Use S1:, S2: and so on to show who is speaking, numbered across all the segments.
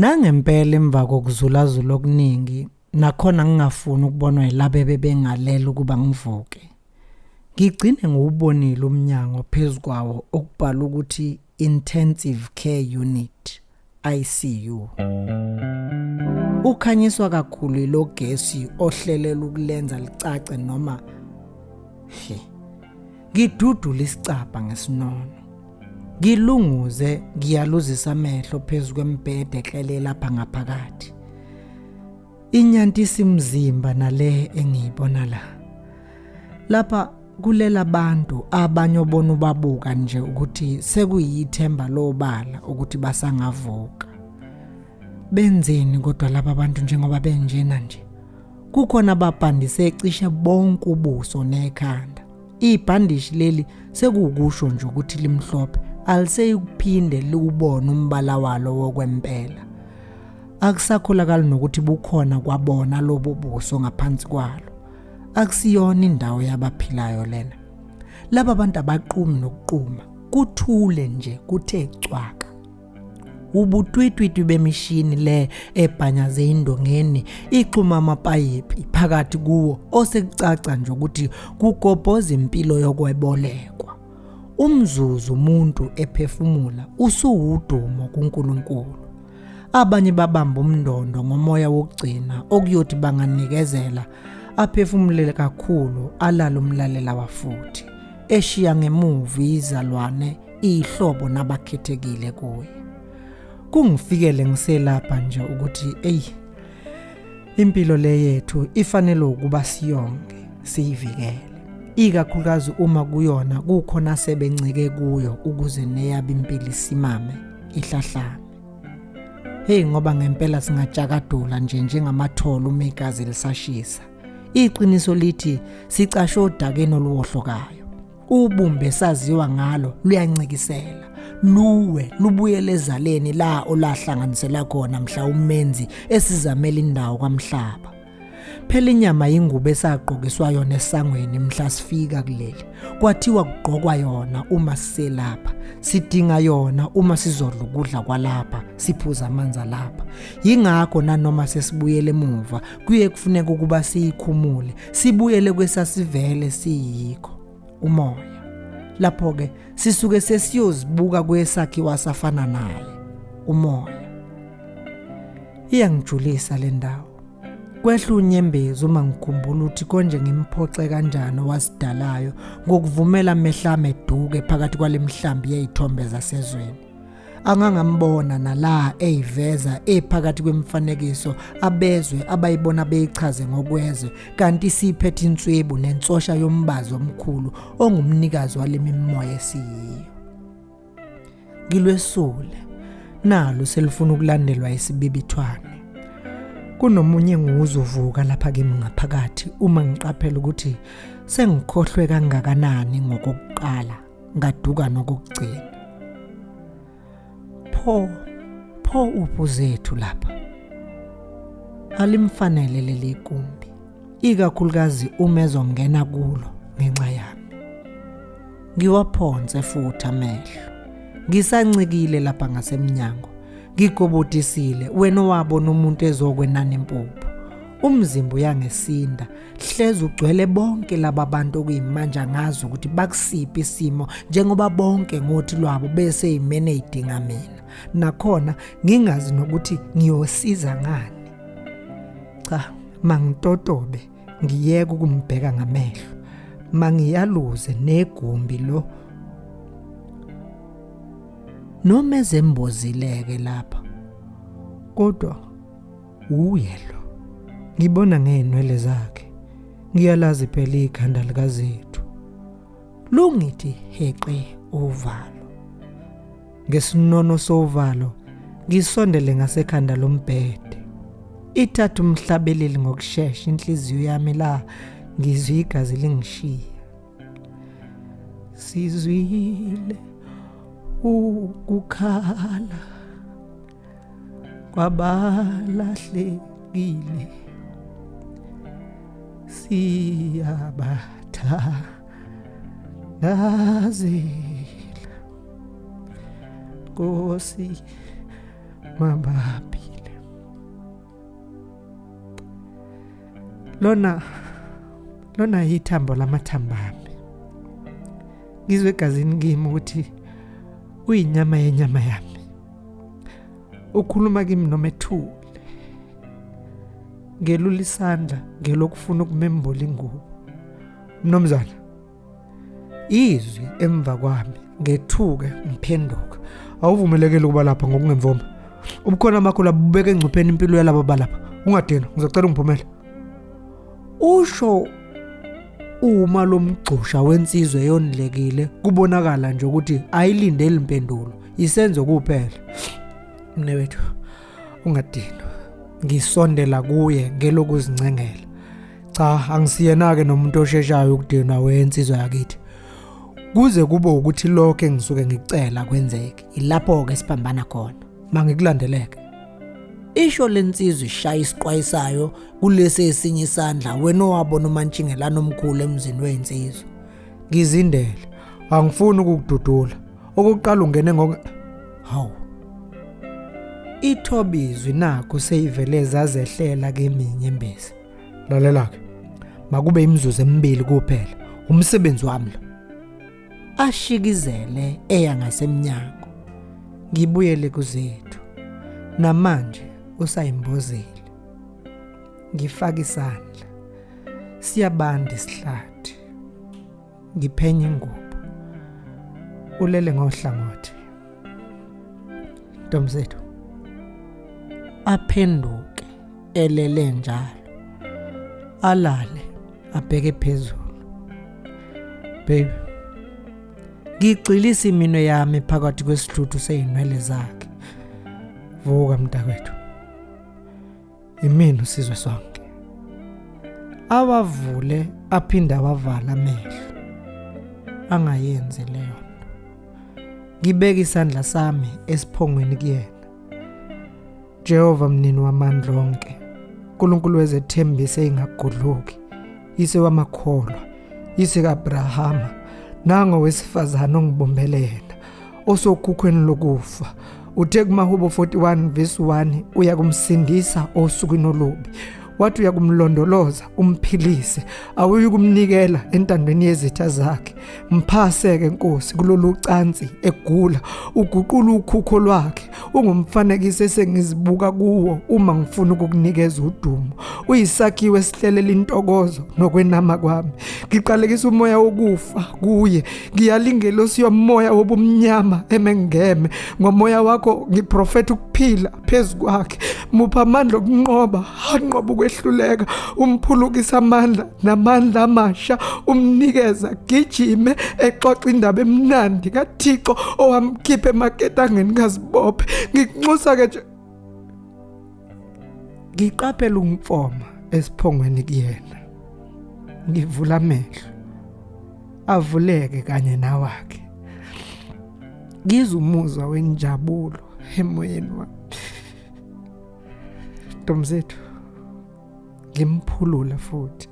S1: Nangempela emva kokuzulazula okuningi nakhona ngingafuni ukubonwa yilabo ebebengalela ukuba ngivuke. Ngigcine ngiwubonile umnyango phezu kwawo okubhalwe ukuthi Intensive Care Unit, ICU. Ukhanyiswa kakhulu ilo gesi ohlelelwa ukulenza licace noma he ngidudula isicabha ngesinono ngilunguze ngiyaluzisa amehlo phezu kwembhede eklele lapha ngaphakathi inyantisi mzimba nale engiyibona la lapha kulela abantu abanye obona ubabuka nje ukuthi sekuyithemba lobala ukuthi basangavuka benzeni kodwa laba bantu njengoba benjena nje kukhona ababhandise cishe bonke ubuso nekhanda Ibhandishi leli sekuwukusho nje ukuthi limhlophe, aliseyikuphinde liwubone umbala walo wokwempela. Akusakholakali nokuthi bukhona kwabona lobo buso ngaphansi kwalo. Akusiyona indawo yabaphilayo lena. Laba bantu abaqumi nokuquma, kuthule nje kuthe cwaka. ubutwitwitwi bemishini le ebhanyaze indongeni ixhuma amapayipi phakathi kuwo osekucaca nje ukuthi kugobhoza impilo yokwebolekwa umzuzu umuntu ephefumula usuwudumo kuNkulunkulu abanye babamba umndondo ngomoya wokugcina okuyothi banganikezela aphefumulele kakhulu alala umlalela wafuthi eshiya ngemuva izalwane ihlobo nabakhethekile kuye kungifikele ngiselapha nje ukuthi eyi impilo le yethu ifanele ukuba siyonke siyivikele ikakhulukazi uma kuyona kukhona sebencike kuyo ukuze neyaba impilo isimame ihlahlame hey ngoba ngempela singajakadula nje njengamatholo uma igazi lisashisa iqiniso lithi sicashe odakeni oluwohlokayo ubumbe esaziwa ngalo luyancikisela luwe lubuyele ezaleni la olahlanganisela khona mhla umenzi esizamela indawo kwamhlaba phela inyama yingubo esagqokiswa yona esangweni mhla sifika kuleli kwathiwa kugqokwa yona uma siselapha sidinga yona uma sizodla ukudla kwalapha siphuza amanzi alapha yingakho nanoma sesibuyele emuva kuye kufuneka ukuba siyikhumule sibuyele kwesasivele siyikho umoya lapho ke sisuke sesiyozibuka kwesakhiwa safana naye umoya iyangijulisa le ndawo kwehla unyembezi uma ngikhumbula ukuthi konje ngimphoxe kanjani owasidalayo ngokuvumela mehlame duke phakathi kwale mihlambi yey'thombe zasezweni angangambona nala eyiveza ephakathi kwemifanekiso abezwe abayibona beyichaze ngokwezwe kanti siphethe inswebu nensosha yombazo omkhulu ongumnikazi walemimoya esiyiyo ngilwesule nalo selifuna ukulandelwa isibibithwane kunomunye nguzuvuka lapha kimi ngaphakathi uma ngiqaphela ukuthi sengikhohlwe kangakanani ngokokuqala ngaduka nokugcina pho pho uphu zethu lapha alimfanele leli gumbi ikakhulukazi uma ezongena kulo ngenxa yami ngiwaphonse futhi amehlo ngisancikile lapha ngasemnyango ngigobodisile wena owabona umuntu ezokwenana impuphu umzimba uyangesinda hleze ugcwele bonke laba bantu okuyimanje angazi ukuthi bakusiphi isimo njengoba bonke ngothi lwabo bese yimene idinga mina nakhona ngingazi nokuthi ngiyosiza ngani cha mangitotobe ngiyeke ukumbheka ngamehlo mangiyaluze negumbi lo noma ezembozileke lapha kodwa Uyelo. Ngibona ngeenwele zakhe. Ngiyalazi phela ikhanda likaZethu. Lungithi heqe uvalo. Ngesinono sovalo ngisondele ngasekhanda lombhede. Ithatha umhlabeleli ngokushesha inhliziyo yami la ngizwe igazi lingishiya. Sizwile ukukhala. kwabalahlekile siyabathandazela Nkosi mabaphile lona lona yithambo lamathambami ngizwe egazini kimi ukuthi uyinyama yenyama yami ukhuluma kimi noma ethule ngelula isandla ngelokufuna ukumembula ingubo mnumzana izwi emva kwami ngethuke ngiphenduka awuvumelekile ukuba lapha ngokungemvuma ubukhona bakho labubeka engcupheni impilo yalabo balapha ungadinwa ngizocela ungiphumele usho uma lomgxosha wensizwe yonilekile kubonakala nje ukuthi ayilindeli impendulo yisenzo kuphela mne wethu ungadinwa ngisondela kuye ngelokuzincengela cha angisiyena-ke nomuntu osheshayo ukudinwa wensizwa yakithi kuze kube ukuthi lokho engisuke ngicela kwenzeke ilapho-ke siphambana khona mangikulandeleke isho lensizwa ishaya isiqwayisayo kulesi esinye isandla wena owabona umantshingelana omkhulu emzini weyinsizwa ngizindele angifuni ukukududula okokuqala ungene ngoku hawu ithobizwi nakho seyivele zazehlela kimi inyembezi lalela-ke makube imizuzu emibili kuphela umsebenzi wami lo ashikizele eya ngasemnyango ngibuyele kuzethu namanje usayimbozile ngifaka isandla siyabanda isihlathi ngiphenya ingubo ulele ngohlangothi ntomzethu aphenduke elele njalo alale abheke phezulu baby ngigxilisa iminwe yami phakathi kwesihluthu seyinwele zakhe vuka mntakwethu yimina usizwe sonke awavule aphinde awavala amehlo angayenzi leyo nto ngibeke isandla sami esiphongweni kuyena Jehova mnini wamandla onke uNkulunkulu wezethembiso engagudluki ise wamakholwa ise kaAbrahama nango wesifazana ongibumbele yena osokhukhweni lokufa uthe kumahubo 41 verse 1 uyakumsindisa osukwini olubi wathi uyakumlondoloza umphilise awuyi kumnikela entandweni yezitha zakhe mphaseke nkosi kulolu cansi egula uguqula ukhukho lwakhe ungumfanekiso esengizibuka kuwo uma ngifuna ukukunikeza udumo uyisakhiwo esihlelela intokozo nokwenama kwami ngiqalekisa umoya wokufa kuye ngiyalingelosi yomoya wobumnyama emengeme ngomoya wakho ngiprofetha ukuphila phezu kwakhe mupha amandla okunqoba anqoba ukwehluleka umphulukisa amandla namandla amasha umnikeza gijime exoxa indaba emnandi kaThixo owamkhipha emaketangeni kazibophe ngikunxusa ke nje ngiqaphela umfoma esiphongweni kuyena ngivula amehlo avuleke kanye nawakhe ngizwa umuzwa wenjabulo emoyeni wami ntomzethu ngimphulule futhi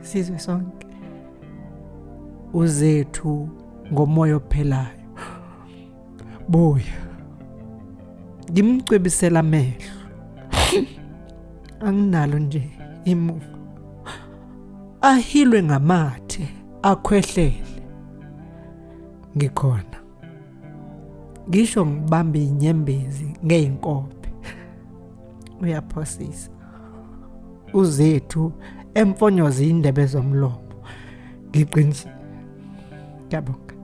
S1: sizwe sonke uzethu ngomoya ophelayo buya ngimcwebisela amehlo anginalo nje imuva ahilwe ngamathe akhwehlele ngikhona ngisho ngibambe inyembezi ngeyinkobe uyaphosisa uzethu emfonyoza indebe zomlomo ngiqinisa ngiyabonga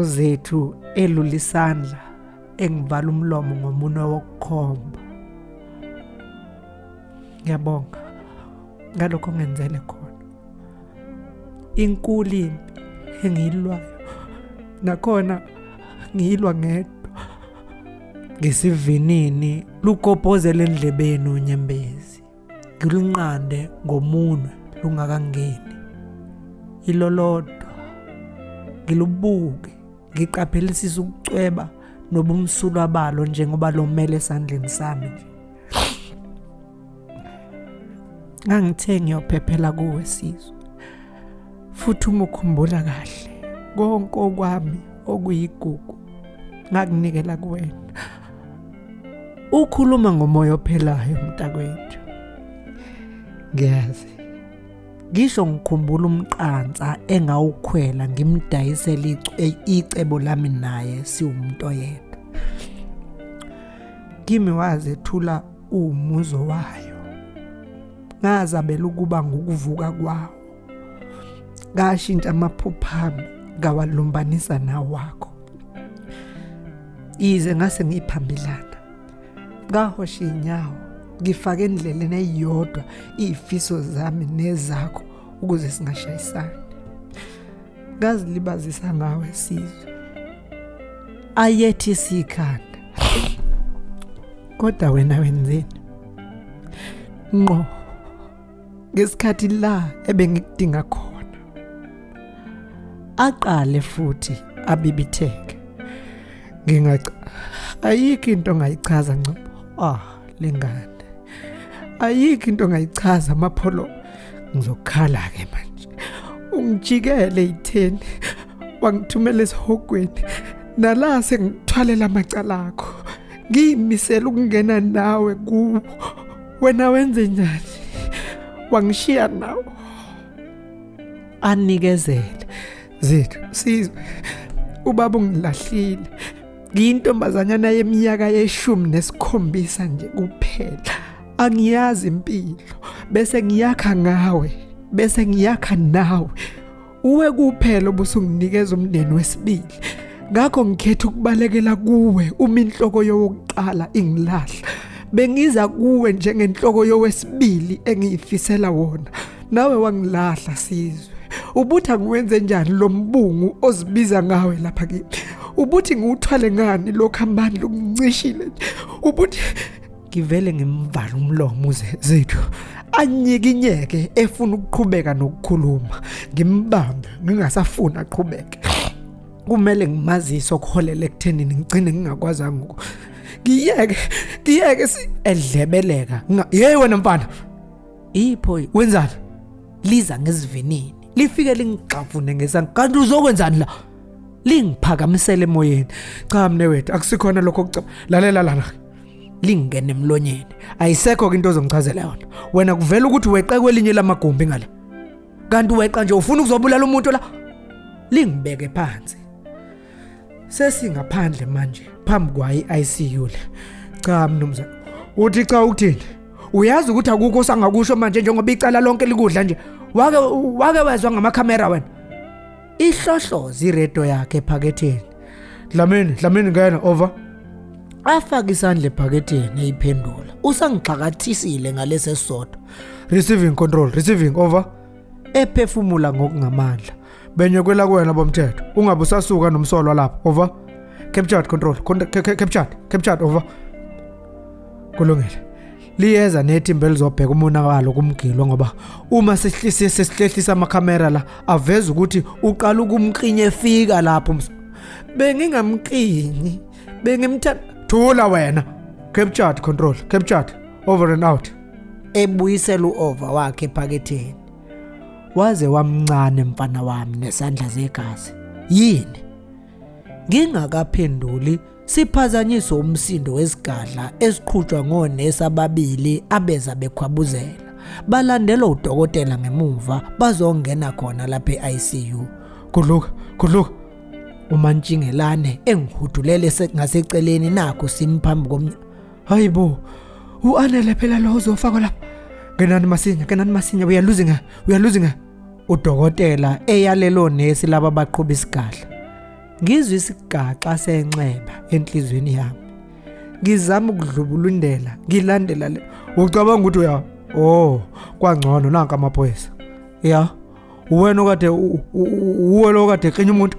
S1: uzethu elula isandla engivala umlomo ngomunwe wokukhomba ngiyabonga ngalokho ngenzele khona inkulu impi engiyilwayo nakhona ngiyilwa ngedwa ngesivinini lugobhozela endlebeni unyembezi ngilunqande ngomunwe lungakangeni ilolodwa ngilubuke ngiqaphelisisa ukucweba nobumsulwa balo njengoba lomele esandleni sami nje ngangithe ngiyophephela kuwe sizwe futhi uma ukhumbula kahle konke okwami okuyigugu ngakunikela kuwena ukhuluma ngomoya ophelayo mntakwethu ngiyazi ngisho ngikhumbula umqansa engawukhwela ngimdayisela icebo lami naye siwumuntu oyedwa kimi waze thula uwumuzo wayo ngazabela ukuba ngukuvuka kwawo ngashintsha amaphupha ami ngawalumbanisa nawakho yize ngase ngiyiphambilana ngahosha inyawo ngifake endleleni eyodwa izifiso zami nezakho ukuze singashayisani ngazilibazisa ngawe sizwe ayethi sikhanda kodwa wena wenzeni ngqo ngesikhathi la ebengikudinga khona aqale futhi abibitheke ngingaca ayikho into ongayichaza ngcobo ah lengane ayikho into ongayichaza amapholo ngizokhala-ke manje ungijikele itheni wangithumela esihogweni nala sengithwalela amacala akho ngiyimisela ukungena nawe kuwo wena wenze njani wangishiya nawo anikezele zethu sizwe ubaba ungilahlile ngiyintombazanyana yeminyaka yeshumi nesikhombisa nje kuphela angiyazi impilo bese ngiyakha ngawe bese ngiyakha nawe uwe kuphela obusunginikeza umndeni wesibili ngakho ngikhetha ukubalekela kuwe uma inhloko yokuqala ingilahla bengiza kuwe njengenhloko yowesibili engiyifisela wona nawe wangilahla sizwe ubutha ngiwenze njani lo mbungu ozibiza ngawe lapha kimi ubuthi ngiwuthwale ngani lo khambani lokuncishile ubuthi ngivele ngimvala umlomo uze zethu anyikinyeke efuna ukuqhubeka nokukhuluma ngimbambe ngingasafuni aqhubeke kumele ngimazise okuholela ekuthenini ngigcine ngingakwazanga uku ngiyeke ngiyeke edlebeleka hey wena mfana ipho wenzani liza ngesivinini lifike lingigxavune ngesandla kanti uzokwenzani la lingiphakamisele emoyeni cha mne wethu akusikhona lokho kucaba lalela lana lingene emlonyeni ayisekho ke into ozongichazela yona wena kuvela ukuthi weqe kwelinye lamagumbi ngale kanti weqa nje ufuna ukuzobulala umuntu la lingibeke phansi sesingaphandle manje phambi kwayi ICU le cha mnumzane uthi cha ukuthini uyazi ukuthi akukho sangakusho manje njengoba icala lonke likudla nje wake wake wezwa ngamakhamera wena ihlohlozi iredo yakhe ephaketheni dlamini dlamini ngena over afaka isandla ephaketheni eyiphendula usangixakathisile ngalesesodwa receiving control receiving over ephefumula ngokungamandla benyekwela kuwena bomthetho ungabe usasuka nomsolwa lapha over captured control captured captured over kulungile liyeza nethimba elizobheka umonakalo kumgilo ngoba uma sihlise sesihlehlisa amakhamera la aveza ukuthi uqala ukumqinye efika lapho bengingamqinyi bengimthanda thula wena captured control captured over and out ebuyisela uova wakhe ephaketheni Waze wamncane mfana wami nesandla zegazi. Yini? Ngingakaphenduli siphazanyiswe umsindo wesigadla esiqhutshwa ngonesi ababili abeza bekhwabuzela. Balandelwa udokotela ngemuva bazongena khona lapha e-ICU. Gudluka, gudluka. UMantshingelane engihudulele ngaseceleni nakho simphambi komnyango. hayi bo uanele phela lo uzofakwa lapha ngenani masinya ngenani masinya we are losing her we are losing her udokotela eyalelo nesi laba baqhuba isigadla ngizwe isigaxa senxeba enhlizweni yami ngizama ukudlubulundela ngilandela le ucabanga ukuthi uya oh kwangcono nanka amaphoyisa ya uwena okade uwe lokade xenya umuntu